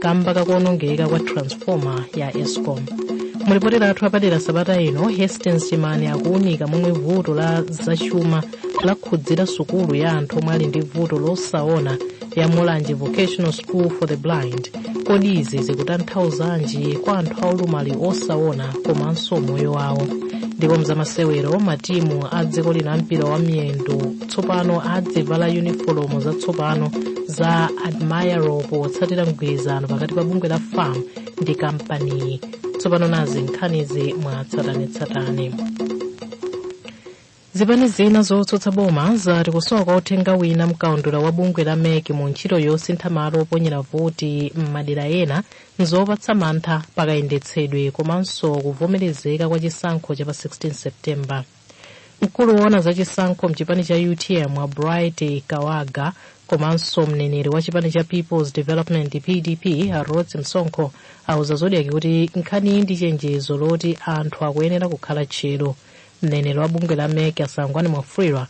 kamba kakuonongeka kwa transformer ya escom mulipoti lathu lapadera sabata ino hastings chimani akuunika momwe vuto la zachuma lakhudzira sukulu ya anthu omwe ali ndi vuto losaona ya mulanje vocational school for the blind kodi izi zikutanthauzanji kwa anthu aulumali osaona komanso umoyo wawo ndipo mzamasewero matimu a dziko lino ampira wa miyendo tsopano adzivala yunifolomu zatsopano za admiral potsatira mgwirizano pakati pa bungwe la fam ndi kampaniyi tsopano nazi nkhanizi mwa tsatanetsatane zipani zina zotsutsa boma zati kusowa kwa uthenga wina mkaundula wa bungwe la mec mu ntchito yosintha malo oponyera voti m'madera ena nzopatsa mantha pakayendetsedwe komanso kuvomerezeka kwa chisankho cha pa 16 septemba mkulu woona za chisankho mchipani cha utm a bright kawaga komanso mneneri wa chipani cha peoples development pdp a rhodes msonkho auza zodiaki kuti nkhaniyi ndi chenjezo loti anthu akuyenera kukhala tcheru mneneri wa bungwe la mec a sangwani mwafulirwa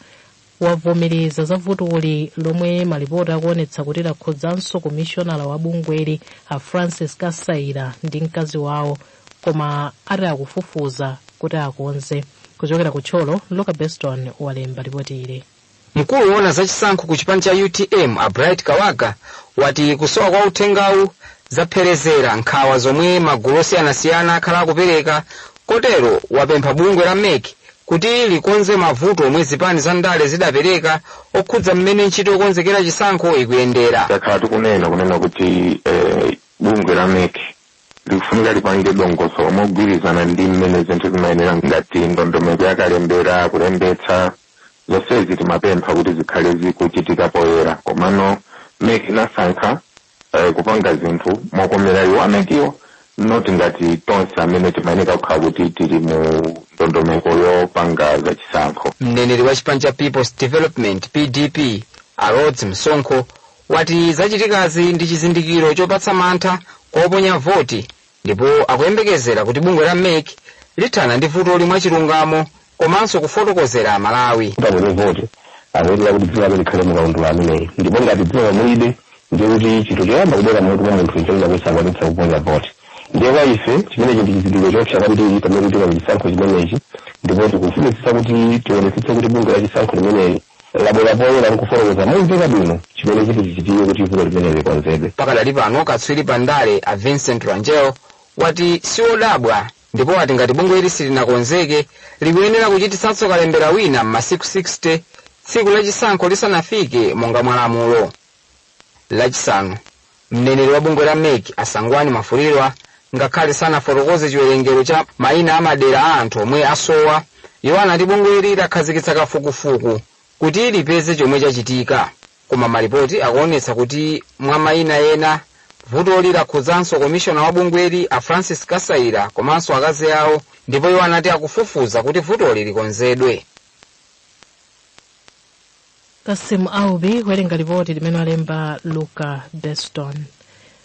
wavomereza za vutoli lomwe malipoti akuonetsa kuti lakhudzanso komishonala wa bungweli a francis kasaila ndi mkazi wawo koma ati akufufuza kuti akonze kuchokera ku thyolo luka beston walemba lipoti ili mkulu woona za chisankho ku chipani cha utm a bright kawaga wati kusowa kwa uthengawu zapherezera nkhawa zomwe magulu osiyanasiyana akhala akupereka kotero wapempha bungwe la mec kuti likonze mavuto omwe zipani za ndale zidapereka okhudza mmene ntchito yokonzekera chisankho ikuyendera takhala tikunena kunena kuti eh, bungwe la mec likufunika lipange dongosolo mogwirizana ndi mmene zinthu zimayenera ngati ndondomeko yakalembera kulembetsa zonsezi timapempha kuti zikhale zikuchitika poyera komano mec inasankha eh, kupanga zinthu mokomera iwo a mec-wo not ngati tonse amene timayeneka kukhala kuti tili mu ndondomeko yopanga za chisankho mneneri wa chipani cha peoples development pdp a rhodes msonkho wati zachitikazi ndi chizindikiro chopatsa mantha kwa oponya voti ndipo akuyembekezera kuti bungwe la mec lithana ndi vutoli mwachilungamo komanso kufotokozera Amalawi. kuti aponye voti akuyenera kuti dzina lake likhale mu kaundula ameneyi ndipo ngati dzina mulibe ndiye kuti chinthu choyamba kubwera m'mutu mwa munthu nchonena kuti sakwanitsa kuponya voti ndiye kwa ife chimenechi ndi chizindikiro choopsa kwambiri pamene tikupita pa chisankho chimenechi ndipo tikufunitsitsa kuti tionetsetse kuti bungwe la chisankho limeneli labwera poyera nkufotokoza momveka bwino chimene chiti chichitike kuti vuto limeneli likonzedwe Pakadali pano katswiri pa ndale a Vincent Rangel wati siwodabwa ndipo wati ngati bungweli silinakonzeke likuyenera kuchititsanso kalembera wina m'masiku 60 tsiku lachisankho lisanafike monga mwa lamulo lachisanu mneneri wa bungwe la mec a sangwani mwafulirwa ngakhale sanafotokoze chiwerengero cha mayina a madera a anthu omwe asowa iwo anati bungweli lakhazikitsa kafukufuku kuti lipeze chomwe chachitika Koma malipoti akuonetsa kuti mwa maina ena, vutoli lakhudzanso komishona wa bungweli a Francis Kasaila komanso akazi awo ndipo iwo anati akufufuza kuti vutoli likonzedwe. Cassim Aubi kuwerenga lipoti limene walemba Luka Beston.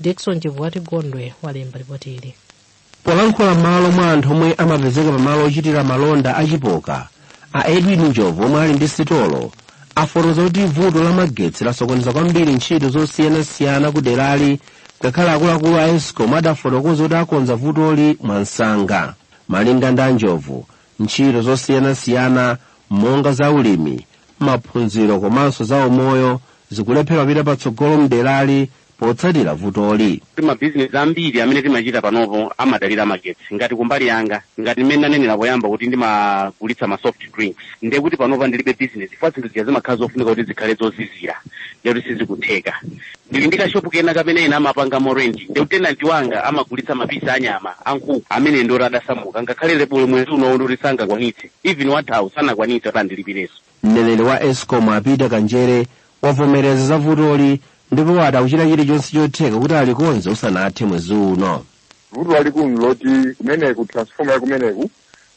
Dickson Chivwati Gondwe walemba ripoti ili. polankhula m'malo mwa anthu omwe amapezeka pamalo ochitira malonda a chipoka a edwin njovu omwe ali ndi sitolo afotokoza kuti vuto la magetsi lasokoneza kwambiri ntchito zosiyanasiyana ku derali ngakhale akuluakulu a escom adafotokoza kuti akonza vutoli mwamsanga malinga ndi a njovu ntchito zosiyanasiyana monga za ulimi maphunziro komanso za umoyo zikulephera kupita patsogolo m'derali potsatira vutoli. Mabizinesi ambiri amene timachita panopo amadalira magetsi. Ngati kumbali yanga, ngati mmene ndanenera poyamba kuti ndimagulitsa ma soft drinks, ndiye kuti panopa ndilibe bizinesi chifukwa zinthu zija zimakhala zofunika kuti zikhale zozizira, ndiye kuti sizikutheka. Ndili ndi kashopu kena kamene ena amapangamo rent, ndiye kuti tenanti wanga amagulitsa mapisi a nyama a nkhuku amene ndioti adasamuka, ngakhale lebulo mwezi unowu ndioti sangakwanitse, even wathawu sanakwanitse kuti andilipirenso. Mneneri wa escom a Peter Kanjere wavomereza za vutoli ndipo wati akuchita chilichonse chotheka kuti alikonze usanathe mwezi uno. vuto lalikulu nloti kumeneku transforma ya kumeneku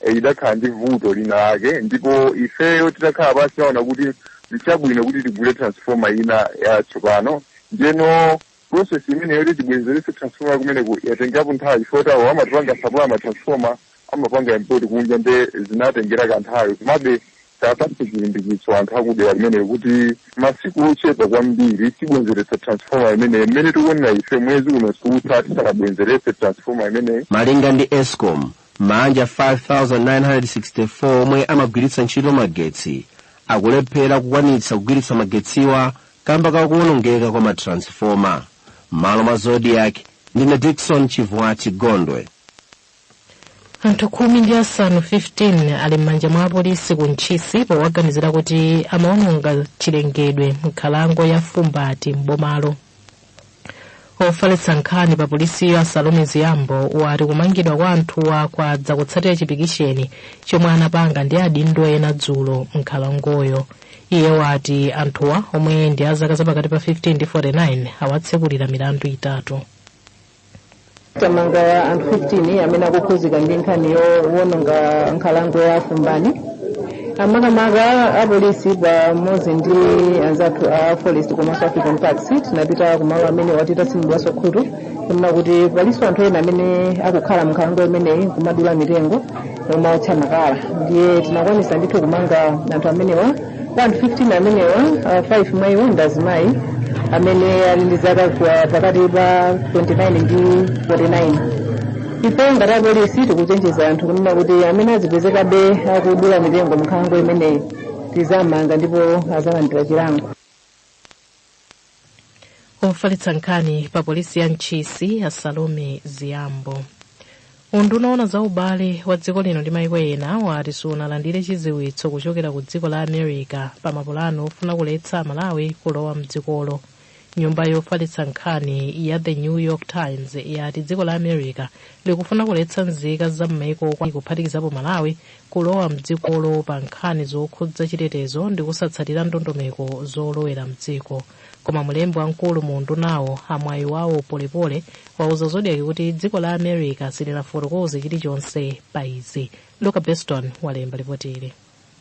eh, idakhala ndi vuto lina lake ndipo ifeyo titakhala pansi taona kuti nchabwino kuti tigule transforma ina yatsopano ndiyeno process imeneyo yoti tibwenzeretse transformer ya kumeneku yatengerapo nthawi chifukwa chawo amatipanga supply ma transformer amapanga import kunja nde zinatengera kanthawi komabe tapatse chitsimikizo anthu akudera kumeneku kuti masiku ochepa kwambiri tibwenzeretsa transformer imeneyi mmene tikuonera ife mwezi uno siutha tisanabwenzeretse transformer imeneyi malinga ndi escom maanja 5964 omwe amagwiritsa ntchito magetsi akulephera kukwanitsa kugwiritsa magetsiwa kamba ka kuwonongeka kwa matransifoma m'malo mwa zodiak ndine dikson chivwati gondwe anthu khumi ndi asanu 15 ali m'manja mwa apolisi ku ntchisi powaganizira kuti amaononga chilengedwe m'nkhalango ya fumbati m'bomalo ofalitsa nkhani pa polisiyo a salome zgambo wati kumangidwa kwa anthuwa kwadza kutsatira chipikisheni chomwe anapanga ndi adindo ena dzulo m'nkhalangoyo iye wati anthuwa omwe ndi azaka zapakati pa 15 ndi 49 awatsekulira milandu itatu tamanga anthu 15 amene akukhuzika ndi nkhani yowononga nkhalango ya fumbani amakamaka apolisi pamodzi ndi anzathu a forest komanso african parks tinapita kumalo amenewa titatsinidwaso khutu kunena kuti paliso anthu ena amene akukhala mnkhalango imeneyi kumadula mitengo nkumaotcha makala ndiye tinakwanisa ndithu kumanga anthu amenewa anthu 15 amenewa ah, 5 mwa iwo ndi azimayi amene ali ndi zaka kwa- pakati pa 29 ndi 49 ife ngati apolisi tikuchenjeza anthu kunena kuti amene azipezekabe akudula mitengo mnkhalango imeneyi tizamanga ndipo azalandira chilango ofalitsa nkhani pa polisi ya ntchisi a salome ziyambo unduna woona za ubale wa dziko lino ndi maiko ena wati sunalandire chidziwitso kuchokera ku dziko la america pa mapulano ofuna kuletsa amalawi kulowa mdzikolo nyumba yofalitsa nkhani ya the new york times yati dziko la america likufuna kuletsa nzika za m'maiko kuphatikizapo malawi kulowa mdzikolo pa nkhani zokhudza chitetezo ndi kusatsatira ndondomeko zolowera mdziko koma mlembi wamkulu mu undunawo a mwayiwawo polepole wauza zodiak kuti dziko la america silinafotokoze chilichonse pa izi luka beston walemba lipoti ili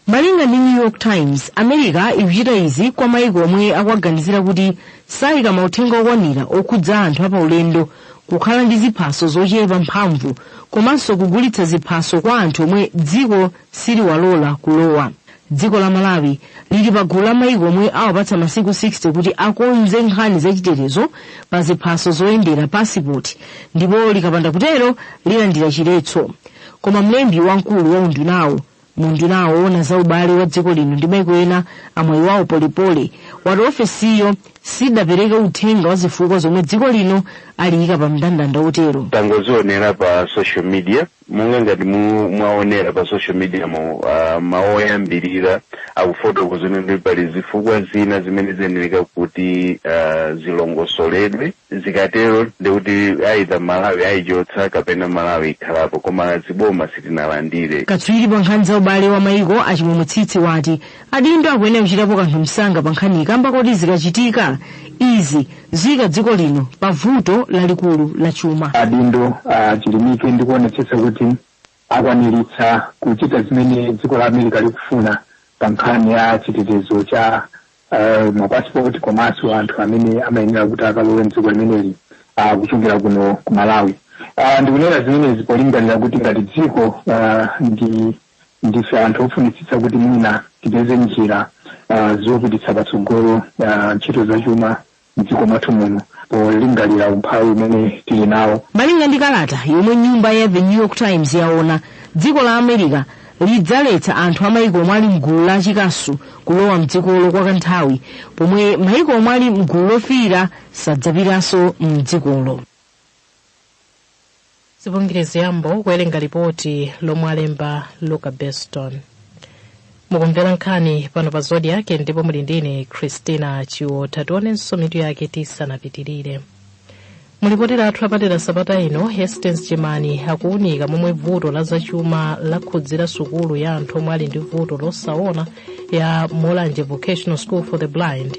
malinga ndi new york times america ikuchita izi kwa maiko omwe akuwaganizira kuti sayika mauthenga okwanira okhudza anthu apaulendo kukhala ndi ziphaso zochepa mphamvu komanso kugulitsa ziphaso kwa anthu omwe dziko siliwalola kulowa dziko la malawi lili pa gulu la maiko omwe awapatsa masiku 60 kuti akonze nkhani zachitetezo pa ziphaso zoyendera pasipoti ndipo likapanda kutero lilandira chiletso koma mlembi wamkulu wa undunawo mu unduna woona za ubale wa dziko lino ndi maiko ena a mwayiwawo polepole wati ofesiyo sidapereke uthenga wa zifukwa zomwe dziko lino aliyika pa mndandanda wotero tangozionera pa social media monga ngati mu- mwaonera pa social media mu uh, mawu oyambirira akufotokoza kuti pali zifukwa zina zimene ziyenera kuti uh, zilongosoledwe zikatero ndikuti either malawi ayichotsa kapena malawi ikhalapo koma zaboma sitinalandire katswiri pa nkhani za ubale wa maiko a chimwemwe tsitsi wati adindo akuyenera kuchitapo kanthu msanga pa nkhaniyi kamba koti zikachitika izi ziyika dziko lino pa vuto lalikulu la chuma adindo achilimike ndi kuonetsetsa kuti akwaniritsa kuchita zimene dziko la america likufuna pa nkhani ya chitetezo cha uh, mapasipoti komanso anthu amene amayenera kuti akalowe mdziko limeneli uh, kuchokera kuno ku malawi uh, ndikunena zimenezi polingalira kuti ngati dziko uh, ndife anthu ofunitsitsa kuti mwina tipeze njira uh, zopititsa patsogolo uh, ntchito zachuma m'dziko mwathu muno polingalira umphawi umene tili nawo. Malinga ndi kalata yomwe nyumba ya The New York Times yaona, dziko la America lidzaletsa anthu a maiko omwe ali mgulu la chikasu kulowa mdzikolo kwa kanthawi pomwe maiko omwe ali mgulu lofiira sadzapitanso mdzikolo. zipungirizi yambo kuwerenga lipoti lomwe alemba luka beston mukumvera nkhani pano pa zodiak ndipo muli ndine christina chiotha tionenso mitu yake tisanapitirire mulipoti lathu lapadera sabata ino hastings jimani akuwunika momwe vuto la zachuma lakhudzira sukulu ya anthu omwe ali ndi vuto losaona ya mulanje vocational school for the blind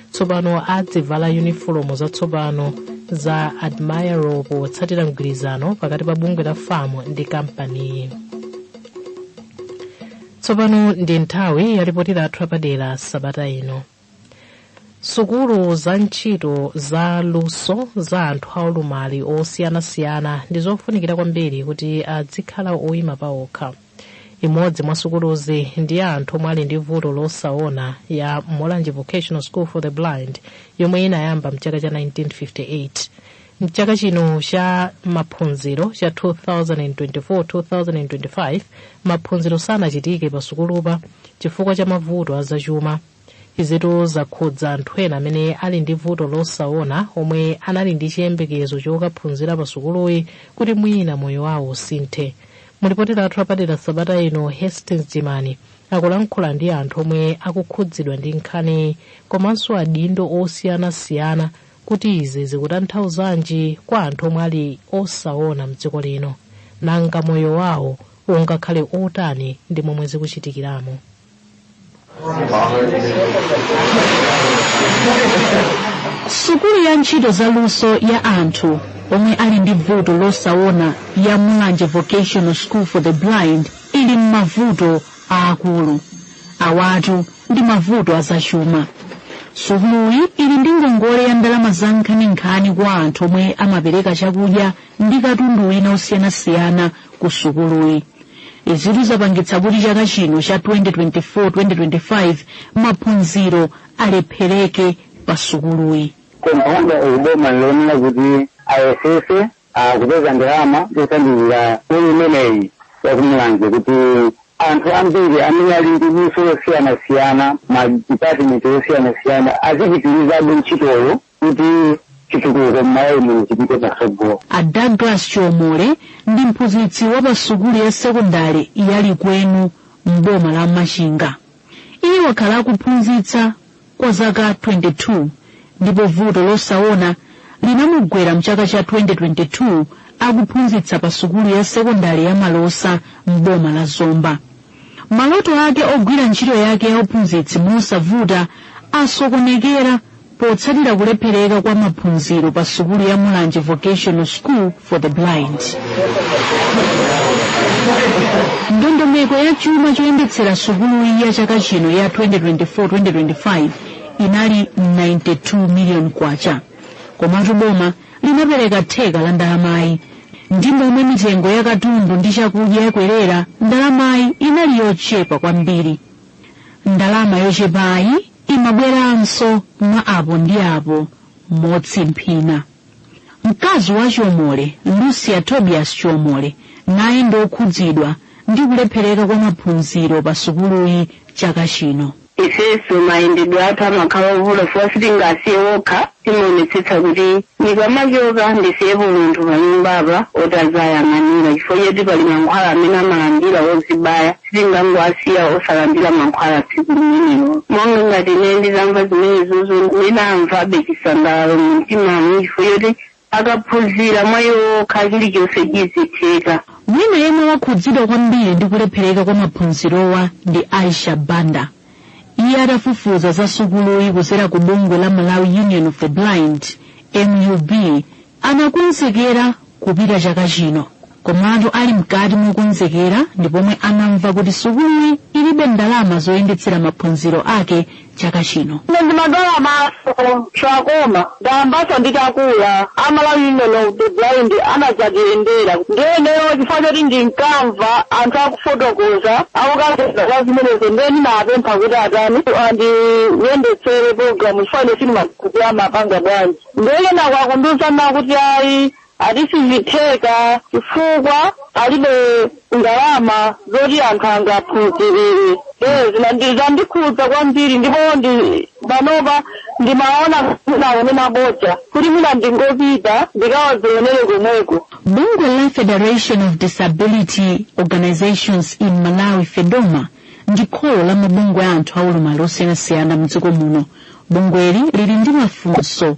tsopano adzivala yunifolomu zatsopano za admiral potsatira mgwirizano pakati pa bungwe la fam ndi kampaniyi tsopano ndi nthawi ya lipoti lathu lapadera sabata ino sukulu za ntchito za luso za anthu aulumali osiyanasiyana ndi zofunikira kwambiri kuti adzikhala oyima pawokha imodzi mwa sukuluzi ndi ya anthu omwe ali ndi vuto losaona ya mulanje vocational school for the blind yomwe inayamba mchaka cha 1958 mchaka chino cha maphunziro cha 2024-2025 maphunziro sanachitike pa sukulupa chifukwa cha mavuto azachuma izitu zakhudza anthu ena amene ali ndi vuto losaona omwe anali ndi chiyembekezo chokaphunzira pa sukuluyi kuti mwina moyo wawo usinthe mulipoti lathu lapadera sabata ino hastings jimani akulankhula ndi anthu omwe akukhudzidwa ndi nkhaniyi komanso adindo osiyanasiyana kuti izi zikutanthauzanji kwa anthu omwe ali osaona mdziko lino nanga moyo wawo ungakhale otani ndi momwe zikuchitikiramo sukulu ya ntchito za luso ya anthu omwe ali ndi vuto losaona ya mulanje vocational school for the blind ili m'mavuto aakulu awatu ndi mavuto azachuma sukuluyi ili ndi ngongole ya ndalama za nkhaninkhani kwa anthu omwe amapereka chakudya ndi katundu wina osiyanasiyana ku sukuluyi izitu zapangitsa kuti chaka chino cha 2024-2025 maphunziro alephereke pa sukuluyi kompaundi uboma lionere kuti ayesese kupeza ndalama zothandizira sukulu imeneyi yakumulanje kuti anthu ambiri amene ali ndi luso losiyanasiyana madipatimenti osiyanasiyana azipitirizabe ntchitoyo kuti chitukuko m'malawi muno chipite patsogolo a douglas chomole ndi mphunzitsi wa pa sukulu ya sekondale ya likwenu m'boma la machinga iye wakhala akuphunzitsa kwa zaka 22 ndipo vuto losaona linamugwera mchaka cha 2022 akuphunzitsa pa sukulu ya sekondale ya malosa m'boma la zomba Maloto ake ogwira ntchito yake ya uphunzitsi mosavuta asokonekera potsatira kulephereka kwa maphunziro pa sukulu ya Mulanje Vocational School for the Blind. Ndondomeko ya chuma choyendetsera sukuluyi ya chaka chino ya 2024-2025 inali 92 million kwacha. Komatu boma linapereka theka la ndalamayi ndi momwe mitengo ya katundu ndi chakudya yakwerera ndalamayi inali yochepa kwambiri ndalama yochepayi imabweranso mwa apo ndi apo motsimphina mkazi wa chomole lucia tobias chomole naye ndi okhudzidwa ndi kulephereka kwa maphunziro pa sukuluyi chaka chino Ifenso mayendedwe athu amakhala ovuta chifukwa sitingawasiye okha. Timaonetsetsa kuti ndikamachoka ndisiyepo munthu panyumbapa oti adzayang'anira chifukwa choti pali mankhwala amene amalandira ozibaya. Sitingangowasiya osalandira mankhwala tsiku limenelo. Monga ngati ine nditamva zimenezozo ndinamvabe chisangalalo mumtimamu chifukwa choti akaphunzira mwa iwo okha chilichonse chizitheka. Wina yemwe wakhudzidwa kwambiri ndi kulephereka kwa maphunzirowa ndi Aisha Banda. Iye atafufuza za sukuluyi kudzera ku bungwe la Malawi Union of the Blind, MUB, anakonzekera kupita chaka chino. Komatu ali mkati mokonzekera ndi pomwe anamva kuti sukuluyi ilibe ndalama zoyendetsera maphunziro ake chaka chino. Ine ndimadwala maso koma ndayamba nditakula a Malawi union of the blind anadzatiyendera ndiye ineyo chifukwa choti ndinkamva anthu akufotokoza akukazeza za zimenezo ndiye ndinapempha kuti atani andiyendetsere programu chifukwa ine sindimakuti amapanga bwanji ndiye ena kwakundiuza kuti ayi ati sizitheka chifukwa alibe ndalama zoti anthu angaphunzirire ee zina ndi- zandikhudza kwambiri ndipo ndi panopa ndimaona akunena bodza kuti mwina ndingopita ndikadzionere komweko bungwe la federation of disability organizations in malawi fedoma ndi kholo la mabungwe a anthu aulumali osiyanasiyana mdziko muno bungweli lili ndi mafunso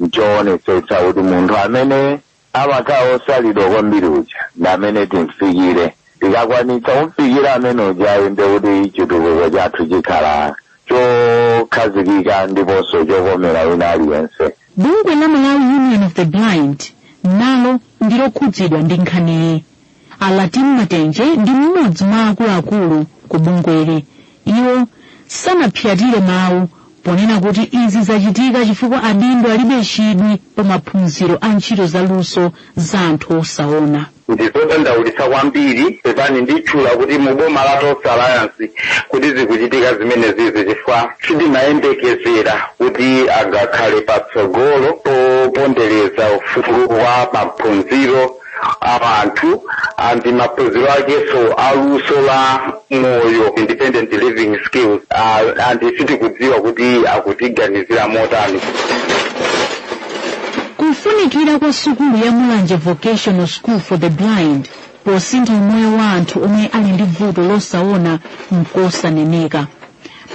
Nchoonetsetsa kuti munthu amene amakhala osalidwa kwambiri uja ndi amene timfikire. Tikakwanitsa kumfikira amene ujayo ndiye kuti chitukuko chathu chikhala chokhazikika ndiponso chokomera wina aliyense. Bungwe la Malawi Union of the Blind nalo ndilokhudzidwa ndi nkhaniyi. a latin matenje ndi mmodzi mwa akuluakulu ku bungweli iwo sanaphyatire mawu ponena kuti izi zachitika chifukwa adindo alibe chidwi pa maphunziro a ntchito za luso za anthu osaona ndizodandaulitsa kwambiri pepani nditchula kuti mu boma la tonse alliance kuti zikuchitika zimenezizi chifukwa sitimayembekezera kuti angakhale patsogolo popondereza ufulu wa maphunziro a anthu and maphunziro akenso aluso la moyo independent living skills uh, and sitikudziwa kuti akutiganizira motani kufunikira kwa sukulu ya mulanje vocational school for the blind posintha umoyo wa anthu omwe ali ndi vuto losaona nkosaneneka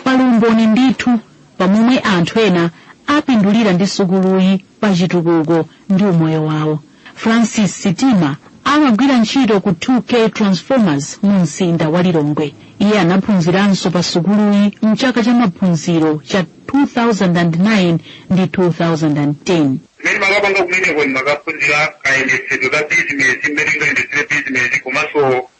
pali umboni ndithu pamomwe anthu ena apindulira ndi sukuluyi pa chitukuko ndi umoyo wawo Francis Sitima amagwira ntchito ku 2K Transformers mu mzinda wa Lilongwe. Iye anaphunziranso pa sukuluyi mchaka cha maphunziro cha 2009 ndi 2010. mmene ndimakapanga kumeneko ndimakaphunzira kayendetsedwe ka bizinesi mmene ungayendetsere bizinesi komanso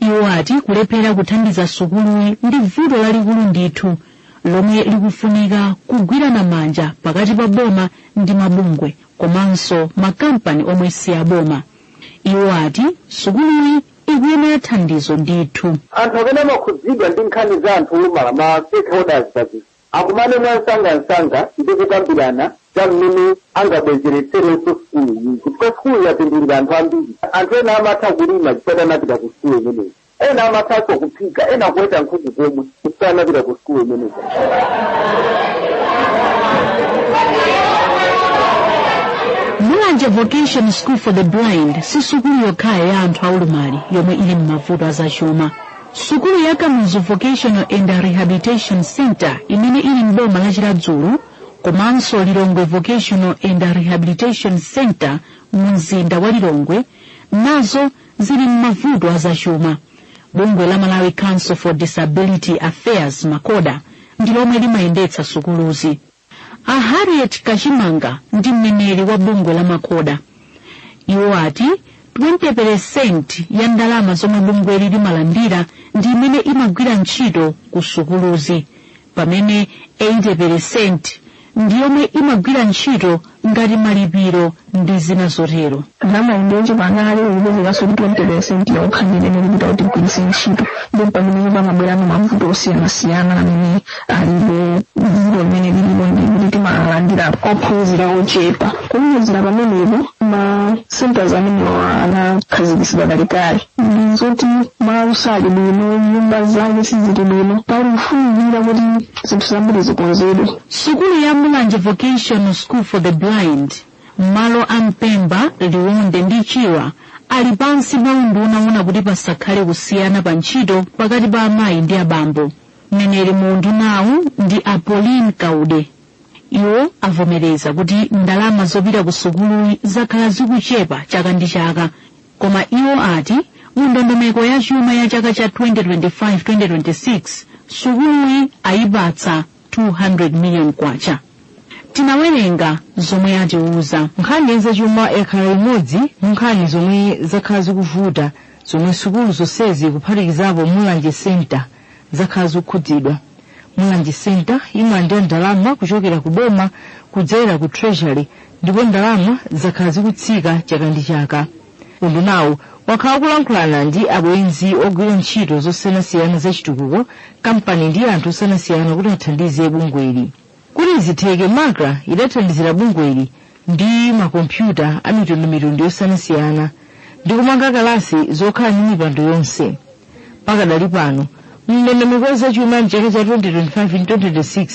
Iwo ati kulephera kuthandiza sukuluyi ndi vuto lalikulu ndithu lomwe likufunika kugwirana manja pakati pa boma ndi mabungwe komanso makampani omwe si aboma. Iwo ati sukuluyi ikuyenera thandizo ndithu. Anthu amene amakhudzidwa ndi nkhani za anthu olumala, ma stakeholders, pa zinthu. akumane mwansangansanga ndi kukambirana za mmene angabwezeretserenso sukuluyi chifukwa sukulu yapindulira anthu ambiri anthu ena amatha kulima chifukwa anapita ku sukulu imeneyi ena amathanso kuphika ena kuweta nkhuku komwe chifukwa anapita ku sukulu imeneyi mulanje vocational school for the blind si sukulu yokhayo ya anthu aulumali yomwe ili m'mavuto azachuma Sukulu ya Kamuzu Vocational and Rehabilitation Center imene ili m'boma la Chiradzulu komanso Lilongwe Vocational and Rehabilitation Center mu mzinda wa Lilongwe nazo zili m'mavuto azachuma. Bungwe la Malawi Council for Disability Affairs MACODA ndi lomwe limayendetsa sukuluzi. A Harriet Kachimanga ndi mneneri wa bungwe la MACODA. Iwo ati 20% ya ndalama zomwe bungweli limalandira ndi imene imagwira ntchito ku sukuluzi pamene 80% ndi yomwe imagwira ntchito ngati malipiro ndi zina zotero ndalama imeneyo pamene uyipezekanso ndi 20 percent yokha ndi imene ikupita kuti igwiritse ntchito ndipo pamenepo pamabwerano mavuto osiyanasiyana amene alipo vuto limene lilipo ndi kuti timalandira ophunzira ochepa kuwonjezera pamenepo ma centers amenewo anakhazikitsidwa kalekale ndi zoti malo sali bwino nyumba zake sizili bwino pali kufunikira kuti zinthu zambiri zikonzedwe Sukulu ya Mulanje Vocational School for the Blind ndi malo a Mpemba, Liwonde ndi Chirwa ali pansi pa unduna woona kuti pasakhale kusiyana pa ntchito pakati pa amayi ndi abambo. Mneneri mu undunawu ndi a Pauline Kaude. Iwo avomereza kuti ndalama zopita ku sukuluyi zakhala zikuchepa chaka ndi chaka, koma iwo ati mu ndondomeko ya chuma ya chaka cha 2025-2026 sukuluyi ayipatsa 200 million kwacha. Tinawerenga zomwe atiuza. nkhani ya zachuma yakhala imodzi mwa nkhani zomwe zakhala zikuvuta zomwe sukulu zonsezi kuphatikizapo mulanje center zakhala zikukhudzidwa mulanje center imalandira ndalama kuchokera ku boma kudzera ku treasury ndipo ndalama zakhala zikutsika chaka ndi chaka undunawu wakhala ukulankhulana ndi abwenzi ogwira ntchito zosiyanasiyana za chitukuko kampani ndi anthu osiyanasiyana kuti athandize bungweli kuti zitheke macra idathandizira bungweli ndi makompyuta a mitundumitundu yosiyanasiyana ndi kumanga kalasi zokhala ndi mipando yonse pakadali pano mndondomeko ya zachuma ya mchaka cha 2025 ndi 2026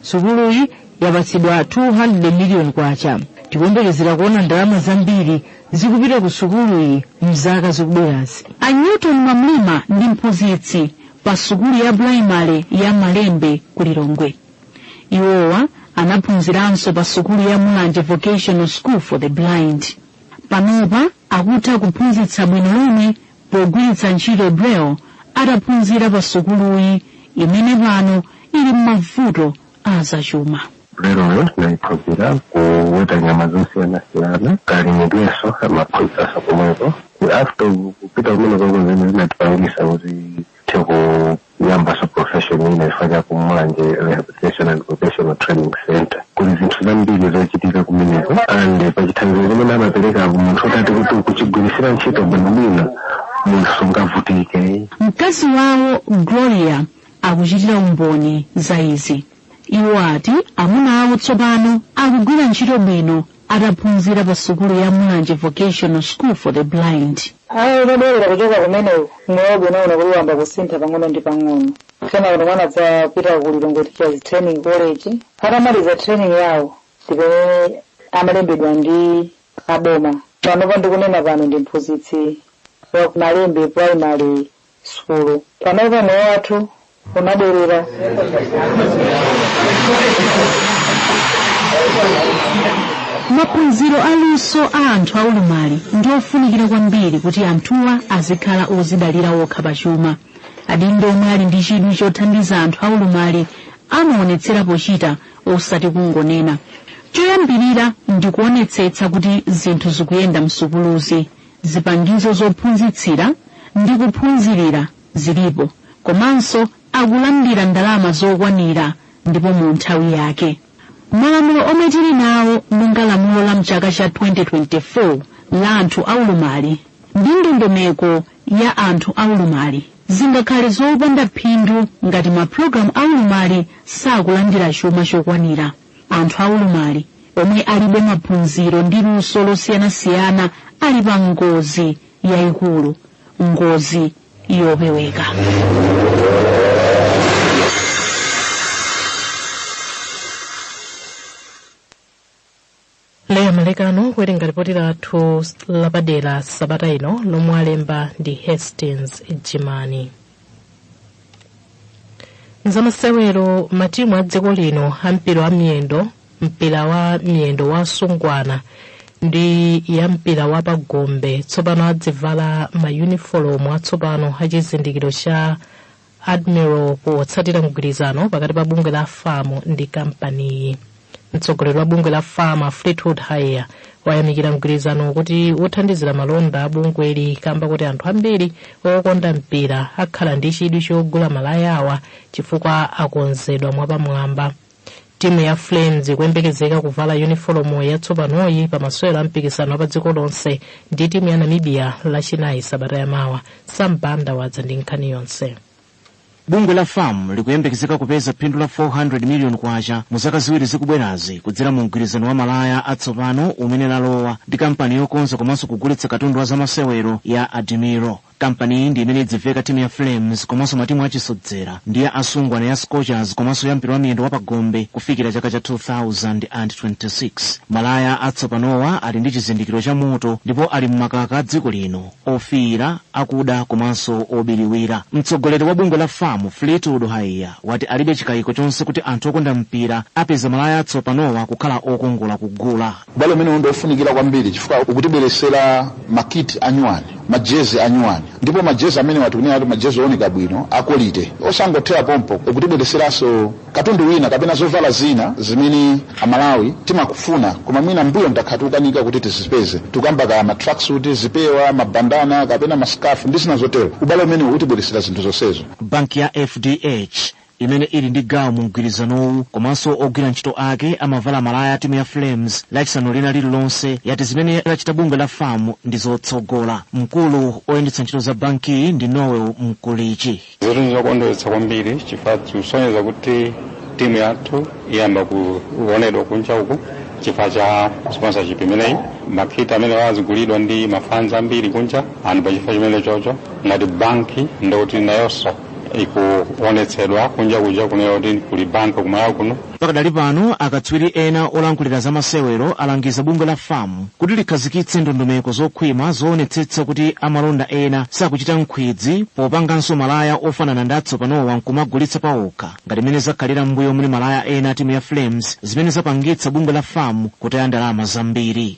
sukuluyi yapatsidwa 200 miliyoni kwacha tikuyembekezera kuona ndalama zambiri zikupita ku sukuluyi mzaka zikubwerazi a newton mwamlima ndi mphunzitsi pa sukulu ya pulaimale ya malembe ku lilongwe iwowa anaphunziranso pa sukulu ya mulanje vocational school for the blind panopa akutha kuphunzitsa bwino lomwe pogwiritsa ntchito Braille ataphunzira pasukuluyi imene pano ili m'mavuto a zachuma. Brailleyo tinayiphunzira kuweta nyama zosiyanasiyana kalimidwenso amaphunzitsanso komweko after kupita kumeneko ndi zimene zinatipangisa kuti tithe ku- kuyambaso profession ina chifukwa cha kumulanje rehabilitation and vocational training center kuli zinthu zambiri zochitika kumeneko and pachithandizo chimene amaperekacho munthu utati kuti ukuchigwirisira ntchito bwinobwino munthu sungavutikeyi mkazi wawo gloria akuchitira umboni za izi iwo ati amuna awo tsopano akugwira ntchito bwino adaphunzira pa sukulu ya Mulanje Vocational School for the Blind. ayi atabwera kuchoka kumeneko moyo wathu unaona kuti wamba kusintha pang'ono ndi pang'ono kenako mwana adzapita ku lilongwe teachers training college atamaliza training yawo ndipamene amalembedwa ndi aboma panopa ndikunena pano ndi mphunzitsi wa malembe primary sukulu. Panopa moyo wathu unabwerera maphunziro aluso a anthu aulumali ndi ofunikira kwambiri kuti anthuwa azikhala ozidalira okha pachuma adindo omwe ali ndi chidwi chothandiza anthu aulumali amaonetsera pochita osati kungonena choyambirira ndi kuonetsetsa kuti zinthu zikuyenda msukuluzi zipangizo zophunzitsira ndi kuphunzirira zilipo komanso akulandira ndalama zokwanira ndipo mu nthawi yake malamulo omwe tili nawo monga lamulo la mchaka cha 2024 la anthu aulumali ndi ndondomeko ya anthu aulumali zingakhale zopanda phindu ngati mapulogalamu aulumali sakulandira chuma chokwanira anthu aulumali omwe alibe maphunziro ndi luso losiyanasiyana ali pa ngozi yayikulu ngozi yopeweka Leah Malekano kuwerenga lipoti lathu lapadera sabata ino lomwe alemba ndi hastings jimani mzamasewero matimu a dziko lino a mpira wa miyendo mpira wa miyendo wa asungwana ndi ya mpira wa pagombe tsopano adzivala mayunifomu atsopano a chizindikiro cha admiral potsatira mgwirizano pakati pa bungwe la fam ndi kampaniyi mtsogoleri wa bungwe la fam a fleetwood haiya wayamikira mgwirizanowu kuti uthandizira malonda a bungweli kamba kuti anthu ambiri okonda mpira akhala ndi chidwi chogula malaya awa chifukwa akonzedwa mwapamwamba timu ya flames ikuyembekezeka kuvala yunifolomu yatsopanoyi pa masewero a mpikisano wa pa dziko lonse ndi timu ya namibia lachinayi sabata yamawa Sam Banda wadza ndi nkhani yonse bungwe la fam likuyembekezeka kupeza phindu la 400 miliyoni kwacha mu zaka ziwiri zikubwerazi kudzera mu mgwirizano wa malaya atsopano umene lalowa ndi kampani yokonza komanso kugulitsa katundu wa zamasewero ya Admiral kampaniyi ndi imene idziveka timu ya flames komanso matimu achisodzera ndi ya asungwana ya scorchers komanso ya mpira wa miyendo wapagombe kufikira chaka cha 2026 malaya atsopanowa ali ndi chizindikiro cha moto ndipo ali m'makaka a dziko lino ofiira akuda komanso obiriwira mtsogoleri wa bungwe la fam fleetwood haiya wati alibe chikayiko chonse kuti anthu okonda mpira apeza malaya atsopanowa kukhala okongola kugula Ubale umenewu ndi wofunikira kwambiri chifukwa ukutibweretsera makiti anyuwani, majezi anyuwani, ndipo majezi amenewa tikunena kuti majezi ooneka bwino akolite. Osangothera pompo, ukutibweretseranso katundu wina kapena zovala zina zimene Amalawi timamufuna koma mwina mbuyomu takhala tikukanika kuti tizipeze. Tikukamba za matracksuit, zipewa, mabandana kapena mascarf ndi zina zotero. Ubale umenewu utibweretsera zinthu zonsezo. Banki ya FDH imene ili ndi gawo mu mgwirizanowu komanso ogwira ntchito ake amavala malaya a timu ya flames lachisanu lina lililonse yati zimene lachita bungwe la fam ndi zotsogola mkulu oyendetsa ntchito za bankiyi ndi noel mkulichi Zinthu zokondweretsa kwambiri chifukwa zikusonyeza kuti timu yathu iyamba kuonedwa kunja uku chifukwa cha sponsorship imeneyi makiti amenewa azigulidwa ndi mafans ambiri kunja and pa chifukwa chimene chocho ngati banki ndikuti nayonso ikuonetsedwa kunja kuja kunena kuti kuli banki kumalawi kuno pakadali pano akatswiri ena olankhulira za masewero alangiza bungwe la famu kuti likhazikitse ndondomeko zokhwima zoonetsetsa kuti amalonda ena sakuchita nkhwidzi popanganso malaya ofanana ndi atsopanowa nkumagulitsa paokha ngati mmene zakhalira m'mbuyomu ndi malaya ena a timu ya flames zimene zapangitsa bungwe la famu kutaya ndalama zambiri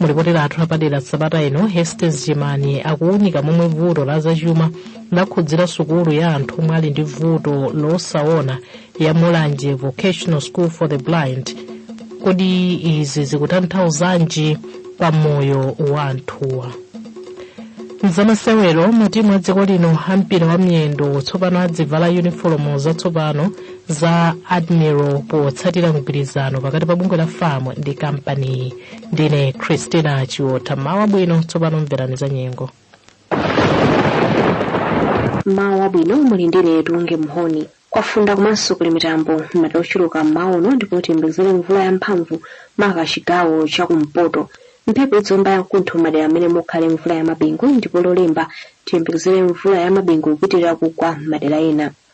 mulipoti lathu lapadera sabata ino Hastings Jimani akuwunika momwe vuto la zachuma lakhudzira sukulu ya anthu omwe ali ndi vuto losaona ya mulanje vocational school for the blind kodi izi zikutanthauzanji pa moyo wa anthuwa mzamasewero matimu a dziko lino a mpira wa miyendo tsopano azivala yunifolomu zatsopano za admiral potsatira mgwirizano pakati pa bungwe la fam ndi kampaniyi ndine christina chiota m'mawa wabwino tsopano mverani za nyengo m'mawa wabwino muli ndi ine tunge mhoni kwafunda komanso kuli mitambo m'madera ochuluka mmawa uno ndipo tiyembekezere mvula yamphamvu maka chigawo chakumpoto mphepo iziomba yamkuntho m'madera amene mukhale mvula yamabingu ndipo lolemba tiyembekezere mvula yamabingu kupitirira kugwa m'madera ena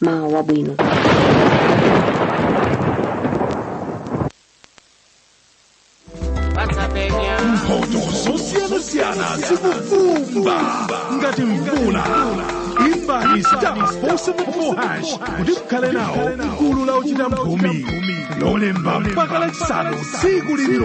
m'mawa wabwino mphotho zosiyanasiyana zikuvumba ngati mvula imbani star 474 hash kuti mukhale nawo m'gulu la ochita mphumi lolemba mpaka lachisanu tsiku lililo